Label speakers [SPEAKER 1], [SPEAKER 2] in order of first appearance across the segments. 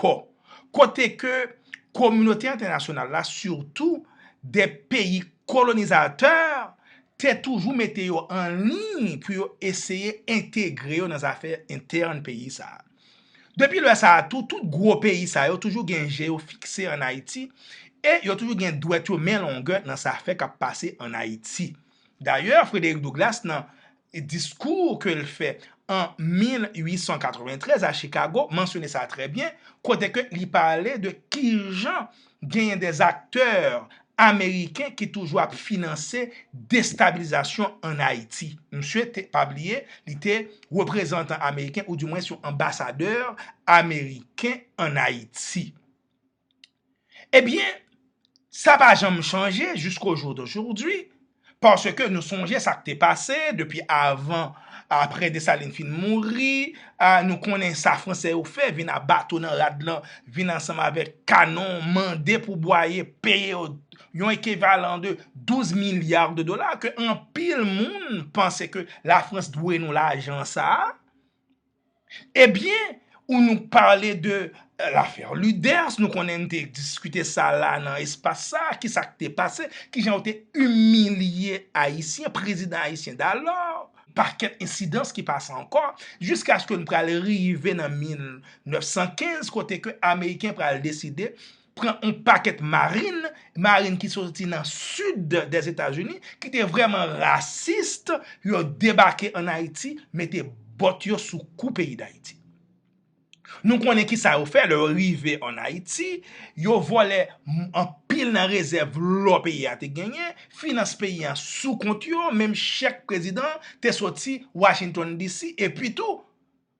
[SPEAKER 1] kò, kote ke kominote entènasyonal la, sitou de peyi kolonizatè, te toujou mete yo an liy pou yo eseye entegre yo nan zafè entèn peyi sa a. Depi lè sa a tou, tout gwo peyi sa yo toujou gen je yo fikse an Ayiti e yo toujou gen dwèt yo men longè nan zafè k ap pase an Ayiti. Dayè, Frederick Douglass nan diskou ke l fè an 1893 a Chicago mansyone sa trè byen, kote ke li pale de kijan genyen dè aktè ameriken ki toujou ap finanse destabilizasyon an Ayiti. Msye te, pa bliye, li te reprezantan ameriken ou di mwens yon anbasadè ameriken an Ayiti. Ebyen, sa pa janm chanje jisko jou dojoudoujwi, paske nou sonje sa k te pase depi avan, apre Desalin fin mouri, nou konnen sa Franse yo fè, vin a bato nan rad lan, vin ansanm avèk kanon, mande pou bwaye, peye yo yon ekivalan de 12 milya de dola, ke anpil moun panse ke Lafrans dwe nou lajan sa a, E byen ou nou pale de lafè Luders, nou konnen nou te diskite sa la nan espas sa, ki sa k te pase, ki jan yo te imilye Ayisyen, prezidan Ayisyen dalò, pakèt ensidans ki pase ankò, jiskaske nou pral rive nan 1915, kote ke Ameriken pral deside pran yon pakèt marin, marin ki soti nan sid des Etazini, ki te vreman rasist, yo debake an Ayiti, mete bòt yo sou kou peyi d'Ayiti. Nou konnen ki sa yo fè, lè yo rive an Ayiti, yo vòlè anpil nan rezèv lò peyi a te genyen, finans peyi a sou kont yo, menm chèk prezidan te soti Washington DC, epi tou,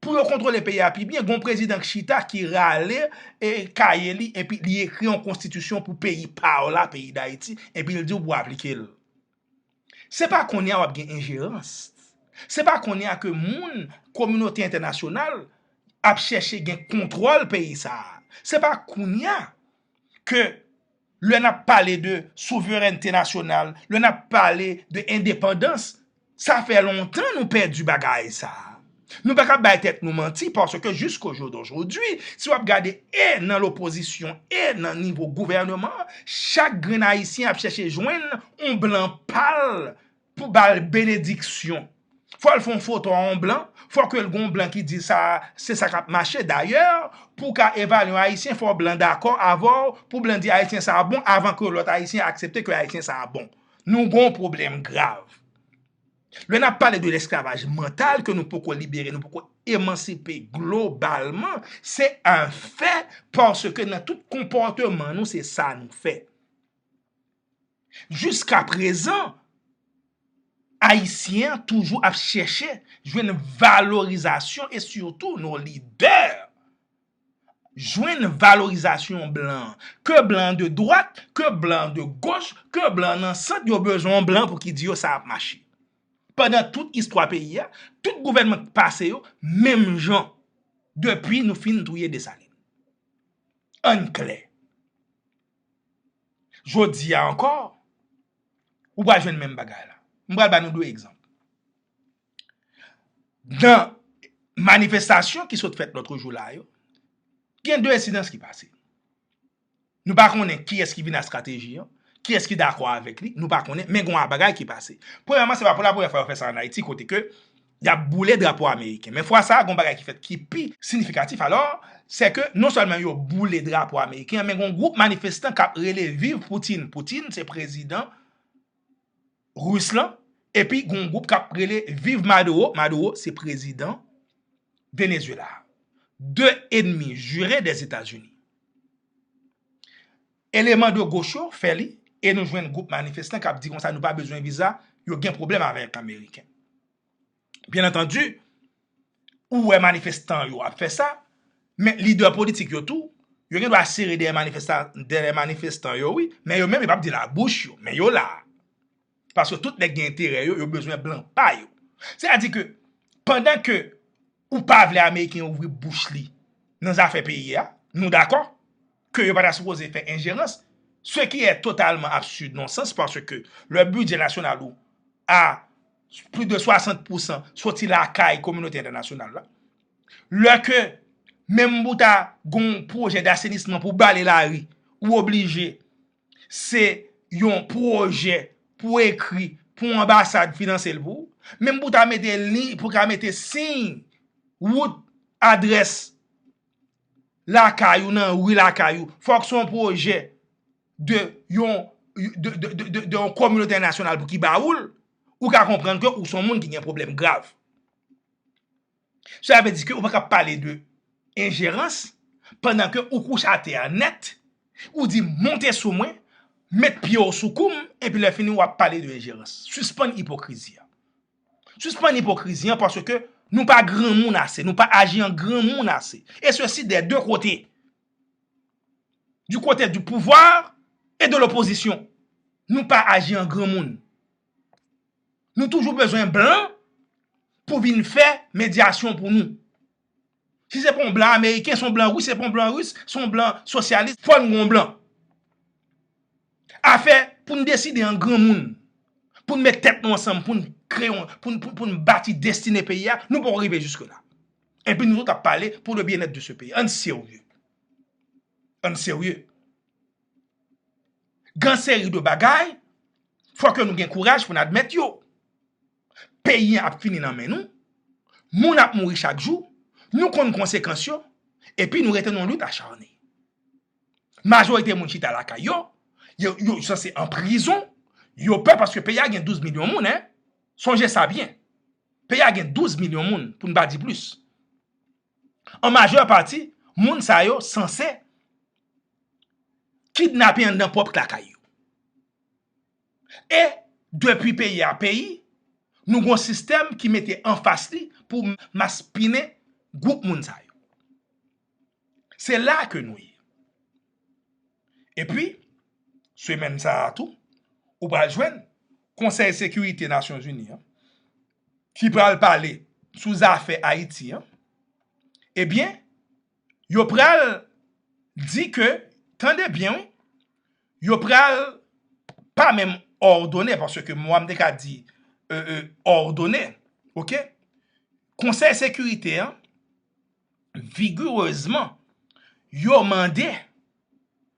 [SPEAKER 1] Pou yo kontwole peyi a pi byen, gon prezidan k chita ki rale e kaye li epi li ekri yon konstitisyon pou peyi pa w la, peyi Dayiti, epi l di w pou w aplike l. Se pa kounye a w ap gen enjerans. Se pa kounye a ke moun, kominote entènasyonal, ap chèche gen kontwòl peyi sa a. Se pa kounye a ke. Lè n ap pale de souverènte nasyonal, lè n ap pale de endepandans, sa fè lontan nou pèdi bagay sa a. Nou pa ka bay tèt nou manti paske jiskojodojodi, si w ap gade e nan lopozisyon e nan nivo gouvèneman, chak grenn Ayisyen ap chèche jwenn yon blan pa l. Pou ba l benediksyon. Fò l fè yon foto a yon blan, fò ke l gen yon blan ki di sa a, se sa k ap mache. Dayè, pou w ka evalye yon Ayisyen, fò blan dakò avè w, pou blan di Ayisyen sa a bon, avan ke lòt Ayisyen aksepte ke Ayisyen sa a bon. Nou gen yon pwoblèm grav. Lè n ap pale de lesklavaj mantal ke nou poko libere, nou poko emansipe globalman, se an fè paske nan tout konpòteman nou se sa nou fè. Jiska prezan, Ayisyen toujou ap chèche jwenn valorizasyon e sitou nou lidè jwenn valorizasyon blan. Ke blan de dwat, ke blan de goch, ke blan nan sant yo bezwen yon blan pou ki di yo sa ap mache. Pandan tout istwa peyi a, tout gouvènman ki pase yo menm jan depi nou fin touye Desalin. Ann klè. Jodi a ankò, ou pral jwenn menm bagay la. M pral ba nou 2 egzanp. Nan manifestasyon ki sot fèt lòtro jou la yo, gen 2 ensidans ki pase. Nou pa konnen ki es ki vin a strateji an, ki es ki dakò avèk li, nou pa konnen, men gwa bagay ki pase. Premyèman, se pa pou la premyè fwa yo fè sa an Ayiti kote ke, y ap boule drapo ameriken. Men fwa sa a, gen yon bagay ki fèt ki pi sinifikatif alò, sè ke non sèlman yo boule drapo ameriken an, men gen yon gwoup manifestan k ap rele viv Poutine, Poutine se prezidan Ris lan, epi gen yon gwoup k ap rele viv Maduro, Maduro se prezidan Venezyela a. De enmi jire dè Etazini. Eleman do goch yo fè li e nou jwenn gwoup manifestan k ap di konsa nou pa bezwen viza, yo gen pwoblèm avèk ameriken. Byen antandi, ou wè manifestan yo ap fè sa, men lidè politik yo tou, yo gen dwa sere dèyè manifestan yo wi, men yo menm yo p ap di l a bouch yo, men yo la a. Paske tout nèg gen enterè yo, yo bezwen blan pa yo. Se a di ke, pandan ke ou pa vle Ameriken yo ouvri bouch li nan zafè peyi a, nou dakò ke yo pa ta sipoze fè enjerans, se ki è totalman absid, non sans, paske lè bidjè nasyonal ou a plis de 60 pousan soti lakay kominote entènasyonal la, lè ke menm pou ta gon pwojè dasenisman pou bale lari, ou oblije. se yon pwojè pou ekri pou anbasad finanse l pou ou, menm pou ta mete liy, pou ta mete siy wout, adrès lakay ou nan ri lakay ou, fòk son pwojè de yon de yon kominote entènasyonal pou ki ba ou l, ou ka konprann ke ou son moun ki gen pwoblèm grav. Cela veut dire ke ou pa ka pale de enjerans pandan ke ou kouche atè a nèt, ou di monte sou mwen, met pye w sou kou m, epi lè fini wap pale de enjerans. Sispann ipokrizi a. Sispann ipokrizi an paske ke nou pa granmoun ase, nou pa aji an granmoun ase. E se si dè 2 kote. Du kote du pouvwa e de lopozisyon. Nou pa aji an granmoun. Nou toujou bezwen blan pou vin fè medyasyon pou nou. Si se pa yon blan ameriken, se yon blan ris, se pa yon blan ris, se yon blan sosyalis, fò nou gen yon blan. Afè pou nou deside an granmoun, pou nou met tèt nou ansanm, pou nou kre yon, pou nou bati destine peyi a, nou poko rive jiske la. Enpi nou tout ap pale pou le byenèt de se peyi. Ann serye. Ann serye. Gan seri de bagay, fò ke nou gen kouraj pou n admèt yo. Peyi an ap fini nan men nou, moun ap mouri chak jou, nou konn konsekans yo, epi nou rete nan lit acharne. Majorite moun chita lakay yo, yo sanse an prizon, yo pè paske peyi a gen 12 milyon moun, sonje sa byen. Peyi a gen 12 milyon moun, pou n pa di plis. an majè pati moun sa yo sanse kidnape anndan pwòp lakay yo. E depi peyi a peyi, nou gon sistèm ki mete anfas li pou maspinen gwoup moun sa yo. Se la ke nou ye. E pi, semèn sa a tou, ou pral jwenn konsèy sekirite Nasyonzini an, ki pral pale sou zafè Ayiti an, ebyen yo pral di ke, tande byen wi, yo pral pa menm òdone, paske mwa m te ka di òdone, ok, konsèy sekirite an vigirezman yo mande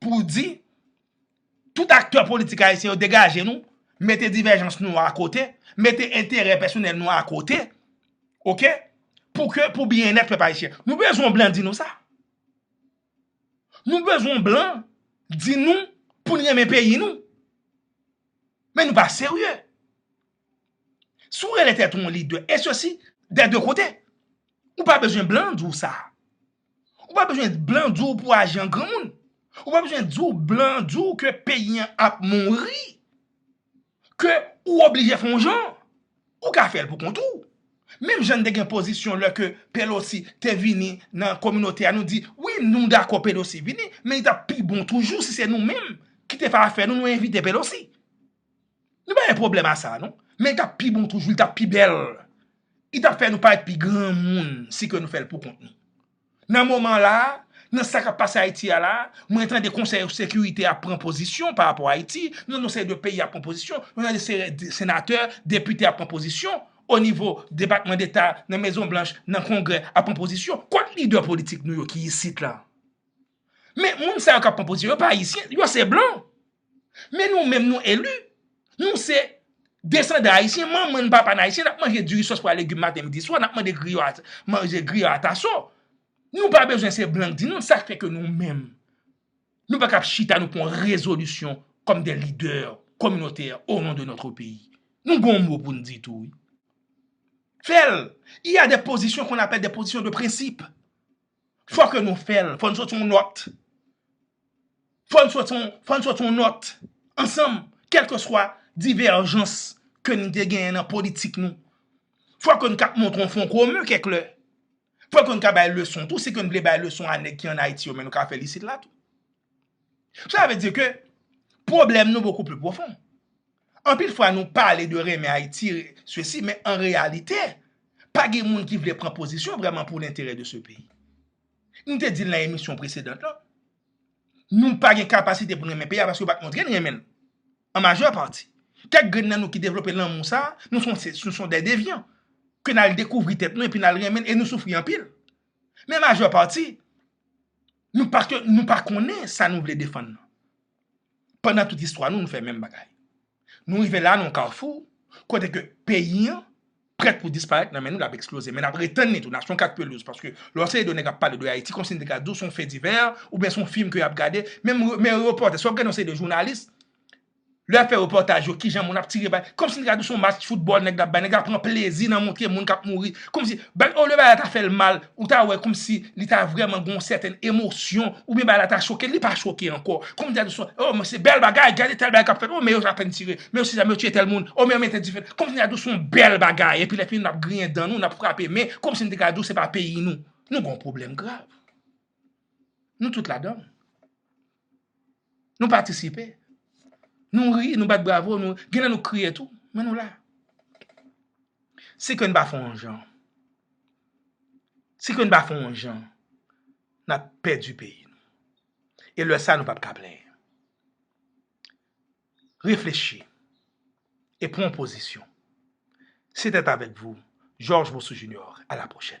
[SPEAKER 1] pou di tout aktè politik ayisyen yo degaje nou, mete divèjans nou a kote, mete enterè pèsonèl nou a kote, ok, pou ke pou byennèt pèp ayisyen. Nou bezwen yon blan di nou sa? Nou bezwen yon blan di nou pou n renmen peyi nou? Men nou pa serye. Si w rele tèt ou yon lidè, e sesi dè de kote. Ou pa bezwen blan di w sa. Ou pa bezwen blan di w pou w aji an granmoun. Ou pa bezwen di w blan di w ke peyi an ap mouri. Ke ou oblije fè yon jan. Ou ka fè l pou kont ou. Menm jan n te gen pozisyon lè ke Pelosi te vini nan kominote a nou di, wi nou dakò Pelosi vini, men li t ap pi bon toujou si se nou menm ki te fè afè nou nou envite Pelosi. Nou pa gen pwoblèm a sa non. Men li tap pi bon toujou, li tap pi bèl. Li tap fè nou parèt pi granmoun si ke nou fèl pou kont nou. Nan moman la, nan sa kap pase Ayiti a la, mwen tande konsèy sekirite a pran pozisyon pa rapò Ayiti, nan yon seri de peyi ap pran pozisyon, mwen tande se senatè, depite ap pran pozisyon, o nivo depatman deta, nan mezon blanch, nan kongrè ap pran pozisyon. Kot lidè politik nou yo ki isit la? Men moun sa yo kap pran pozisyon yo pa ayisyen, yo se blan. Men nou menm nou elu, nou se desandan ayisyen, manman nou papa nou ayisyen, nap manje diri sos pwa legum maten midi swa, nap manje griyo ataso. Nou pa bezwen se blan k di nou, sa fè ke nou menm. Nou pa kap chita nou pran rezolisyon kom de lider kominote o non de notre peyi. Nou gon mou pou nou di tou. Fèl, y a de pozisyon kon apèl de pozisyon de prensip. Fò ke nou fè l. Fò n soti yon nòt. Fò n soti yon, fò n soti yon nòt ansanm kèlkeswa divèjans ke n te genyen nan politik nou. Fò ke n ka montre yon fon komen kèk lè. Fò ke n ka bay leson tou, si ke n vle bay leson a nèg ki an Ayiti yo men nou ka fè l isit la tou. Sa vle di ke pwoblèm nou bokou pli pwofon. Anpil fwa nou pale de renmen Ayiti sesi men an reyalite pa gen moun ki vle pran pozisyon vrèman pou lenterè de se peyi. Nou te di l nan emisyon presedant lan, nou pa gen kapasite pou n renmen peyi a paske yo pa t montre n renmen l an majè pati. Kèk grenn nan nou ki devlope lanmou sa, nou son dè devyan ke n al dekouvri tèt nou epi n al renmen l e nou soufri anpil. Men majè pati nou pa konnen sa nou vle defann nan. pandan tout istwa nou nou fè menm bagay. Nou rive la nan yon kafou kote ke peyi an prèt pou disparèt nan men nou l ap eksploze men n ap retenn li tou nasyon 4 pelouz paske lè w se de nèg ap pale de Ayiti kòmsi n te ka di w se yon fè divè oubyen se yon fim ke y ap gade menm repòtè si w ap gade yon seri de jounalis lè y ap fè repòtaj yo kijan moun ap tire bal kòmsi n te ka di w se yon match foutbòl nèg la ap bay nèg la pran plezi nan montre moun k ap mouri kòmsi olye bagay la ta fè l mal Ou ta wè kòmsi li ta vrèman gen yon sèten emosyon oubyen bagay la ta choke l, li pa choke ankò. Kòm dè dousman, o men se bèl bagay, gade tèl bagay k ap fèt, o men yo apèn tire, men yo si sa, men yo tiye tèl moun, o men yo mete dife. Kòm dè dousman yon bèl bagay epi lè fini n ap griyen dan nou, n ap frape men, kòmsi n te ka di w se pa peyi nou. Nou gen yon pwoblèm grav. Nou tout ladan l. Nou patisipe. Nou ri, nou bat bravo, nou genlè nou kriye tou, men nou la. Si kè n pa fè yon jan, si kè n pa fè yon jan, n ap pèdi peyi nou. E lè sa nou pap ka plenyen. Reflechi e pran yon pozisyon. Sete avèk vou, Georges Monsoon Junior. A la pwochèn.